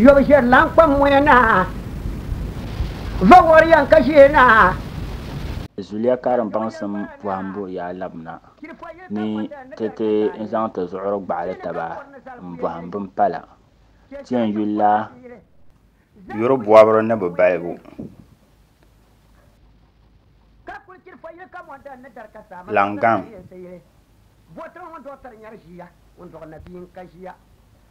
Yɔbu ʒiɛri lan kpam moya na, va wɔri yan ka ʒiɛ na. Zuliya karim baŋsim bɔhimbu yaa labina ni ti ti n zaŋ ti zuɣuri gbaɣili taba n bɔhim bini pala. Ti yɛn yuli la yuri bɔbiri ni bi balibu Langan.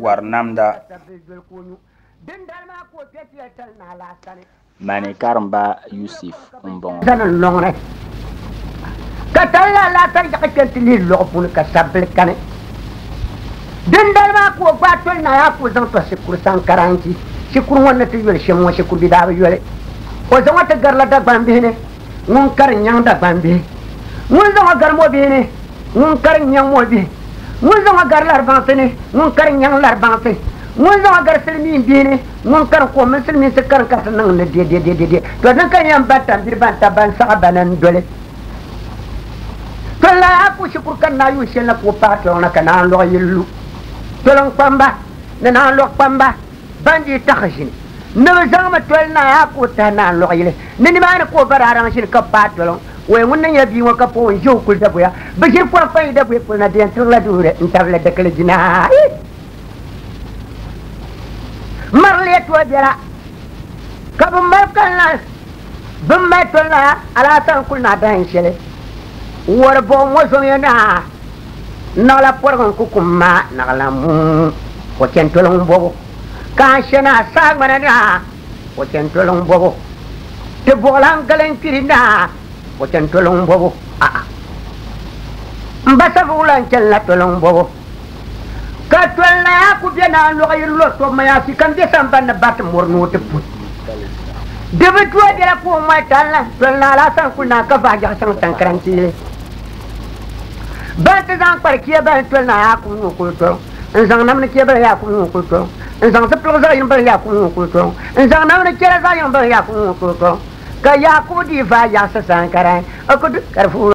wari namda. Mani karimba Yusuf m-bɔŋɔ. Ka tali la alaatari yaɣi kpe nti lihi lɔɣu puuni ka sabbili kani. Dindali maa ka o gbaai toli naai ha ka o zaŋ tɔhi shikuru saŋkara n-ʒi shikuru ŋɔ ni ti yoli shɛm ŋɔ shikuru bi daa bi yoli. O zaŋ o ti garila Dagbambihi ni. ŋun kari n-nyaŋ Dagbambihi, ŋun zaŋ o gari mɔbihi ni, ŋun kari n-nyaŋ mɔbihi, ŋun zaŋ o gari laribaŋsi ni, ŋun kari n-nyaŋ laribaŋsi, ŋun zaŋ o gari silimiinbihi ni, ŋun kari ko mini silimiinsi karinkarisi niŋ ni dɛdɛdɛdɛdɛ. To dini ka n yɛn baŋ tambiri ban tab ba n-saɣi ba ni n doli? To n lahi a puhi shikuru ka n naai yuun shɛli na ka o paai tɔliŋ na ka naan lɔɣu yili lu tɔliŋkpamba ni naan lɔɣukpamba. ban dii taɣi ʒini ni bɛ zaŋmi toli naa a ka o tahi naa n-luɣi yili ni nimaani ka o ba daa raŋ ʒini ka baai toli ŋ ɔya ŋun ni nyɛ bia ŋɔ ka pɔi n-ʒe o kuli daguya bɛ ʒiri pɔi n-kpa yi daguya polo na di yɛn tirila duhiri n-tabili dikili jina mari li yɛtɔɣ biɛla ka bɛ mali kali naai bɛ mali toli naa alaasara n-kuli naa dahin shɛli wari buɣim ŋɔ zom ya naa Naɣila pɔrigu n-ku kum maa naɣila mum, o chɛntoliŋ m-bɔbu. Ka a shɛ naa saagbana naa, o chɛntoliŋ m-bɔbu. Ti buɣilan galinkpiri naa, o chɛntoliŋ m-bɔbu. A'a! M ba Savuwula n-chani la toliŋ m-bɔbu. Ka tol naa ku be naa lɔɣu yiri lɔ tɔbu mayaasi ka m be samban ni bariti mɔri ni o ti pun. Di bi du a bela ka o mɔli tali la, tol naa la a sani kuli naa ka vaai jɛɣu chaŋ Tankaraŋ Tiili. Ban ti zaŋ kpari kiɛbali toli na Yaakubu ŋɔ kul tɔro, n-zaŋ namni kiɛbali Yaakubu ŋɔ kul tɔro, n-zaŋ zipiligu zaɣ yini bali Yaakubu ŋɔ kul tɔro, n-zaŋ namni chɛra zaɣ yini bali Yaakubu ŋɔ kul tɔro. Ka Yaakubu dii vaai yaɣisi saha ka daa yi o ku di ka di fuui.